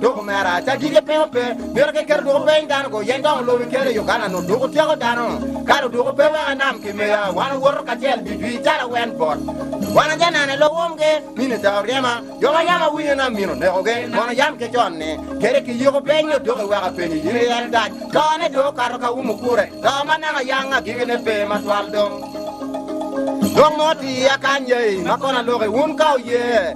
Doko mera aca dige pingo pe mito ki keto doko peny dano go yen dongo lobi kele Uganda no doko tyeko dano kalo doko pe weka nam ki meya wan owoto kacel di dwi calo wen bot wan aja nane lo wom ge mine ca oryema yo ma yam awinyo na mino neko ge mono yam ke con ni kede ki yiko peny no doko weka penyi yin iyen gac to ne doko kato ka wumo kure to ma naka yang agige ne pe ma twal dong Dong mo ti ya kany yei ma kona loki wun ka oye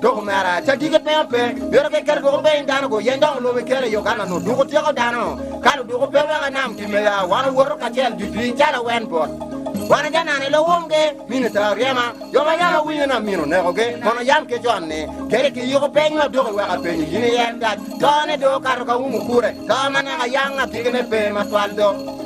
Dok omera cadige pe ape, yoto keken doko piny dano guyeny dok olube kele yo kan onut doko tyeko dano. Kalo doko pe weka nam time ya, wan owoto kacel didwi cal awen bot. Wan ajanana i lawomgi, minita oryema, jo ma yam awinyo ni amino onekogi, mono yam ki con ni, Kele ki yiko peny ma doko wek apenyi, in iye en gac, tone do okato ka umu kure, ka ma naka yanga agikine pe matwal do.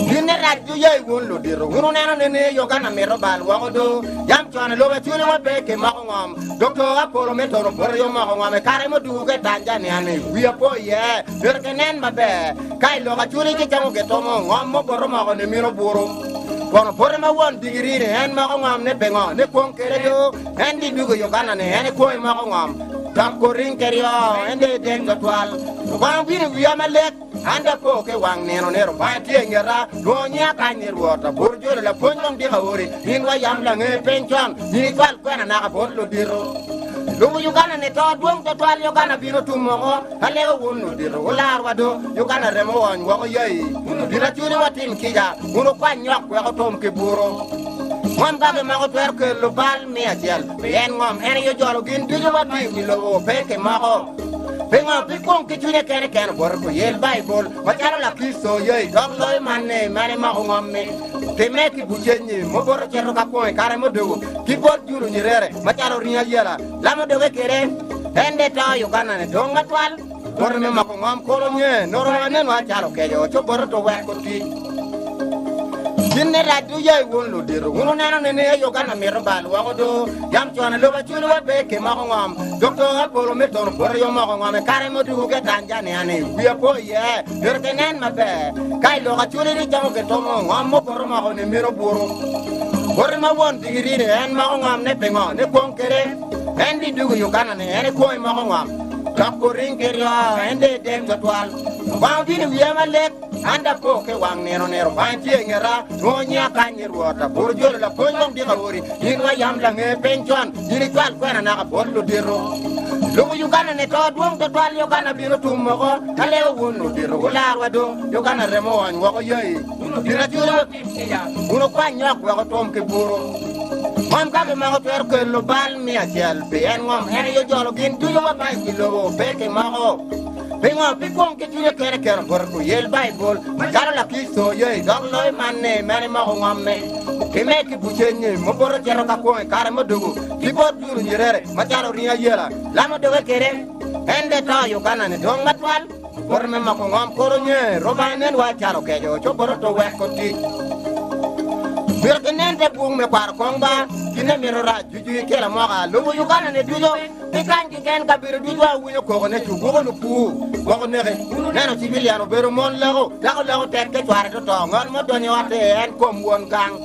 Gine rac ju yai wun ludito, wun wuneno ni ni yogana mito bal woko do. Jam cone lube cwiny wa pe ki moko ngom. Doktor Apollo me toro bote yo moko ngom e kare mudugu ke Tanzania ni wia po iye mito ke nen maber. Ka iloko aculi ki camo ge tomo ngom mo bote moko ni mito buru. Kono bote ma won digiri ni en moko ngom ne pengo ne kwong kede do en di dugu yogana ni en e kwongi moko ngom. Dok koring kedi oo en de ideng twatwal. Lubanga obino iwia malek. An da po ke wang nino ni Rubanga tye i ngeta, nwo nyi akany ni Rwot abor jolo lapwony wang dyek aori, minwa yam lange piny con, nyi cwal kwena naka bot lodito. Lubo Uganda ni to dwong twatwal Uganda bino tum moko alego wun lodito wular wa do Uganda remo wony woko yai wun lodito acuni wa tim kica wun wukwany nyok weko tom ki buro. Mon kaki moko twero kelo bal miya cel. Pien ngom en aye ojolo gin ducu ma tiyo i lobo, pe ki moko. Pingo pi kwong ki cwinye kene kene oboto pi yel Baibul? Macalo Lakricito oye i dog loyo man ni, man imoko ngom-mi, timme ki bucenyi, mubuto cito ka kwong i kare muduku, ki bot julo nyerere, macalo ringo ayela, lamo doge kwede. En bene to i ugannane dong atwal. Bote me mako ngom kulu nge nongo wa nen wa calo okeco co bote to weko tic. Gin ne rac du yai wun ludito wun oneno ni ni ayo kan amito bal woko do yam con aluba cwiny wa be ke mako ngom dok to apolo me tono bote yo moko ngom e kare mo dugu ke Tanzania ni wi apo ye pero ke nen ma be ka iloko aculi ni camo ke tomo ngom mo bote moko ni mino buru bote ma won digiri ni en mako ngom ne pingo ne kwong kere en di dugu Uganda ni en e kwong mako ngom Dok guring ki ryo, en dong idek twatwal. Lubanga obino i wiya malek, an dong apo ki i wang nino nino. Lubanga tye i ngeta, nwo nyiya kany ni Rwot. Aburu jolo lapwony wek dika odi, in wa yam lange piny con. In icwal kwena naka bot ludito. Lubo Uganda ni to dwong twatwal, Uganda bino tum moko. Ka leo wun ludito wularwa dong, Uganda remo oony woko yai. Kun okwany nyok wek otwom ki buru. Ngom ka kimoko twero kelo bal miya acel pi en ngom en aye ojolo gin ducu ma bayo ki lobo pe ki moko. Pingo? Pi kwong ki cwinye kene keno bute ku yel Baibul macalo Lakricito oye i dog loyo man ni meno imoko ngomme. Pi me ki bucenyi mubuto cito ka kwong i kare mudugu ki bot duru nyerere macalo ringo ayela lamo doge kede en de to Uganda ni dwong matwal. Boti me moko ngom koro nye, roba nen wa calo kejo, co boti to wek otic. Mito ki nen pe bung me kwaro kong ba, kine mito rac juju i kila moka, lubu Uganda ne ducu, ki kany ki gen kabedo ducu wa winyo koko ne cu guko lupu, woko neke, neno civilian obedo mon leko, dako leko tek ke cware to to, ngat mo donyo i otte en kom won gang.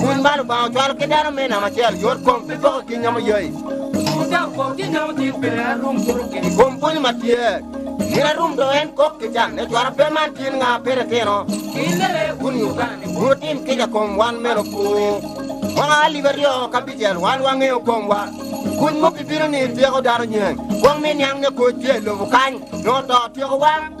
Kuny ma Lubanga ocwalo ki dano me namo acel yot kom pi poko ki nyomo yoi. Otur dok kom ki nyomo tit pi nena rum kuto ki. Kom pwonyo ma tye. Nena rum do en kok ki can ne cwara pe man tin nga pe re tino. Ki lele kun Uganda ni kun otim kica kom wan meno pu. Mwaka alip aryo ka bicel wan wa ngeyo kom wa. Kuny mo pi bino ni tyeko dano nyeng. Kwong me niang ne koc tye lobo kany. Nongo to tyeko wa.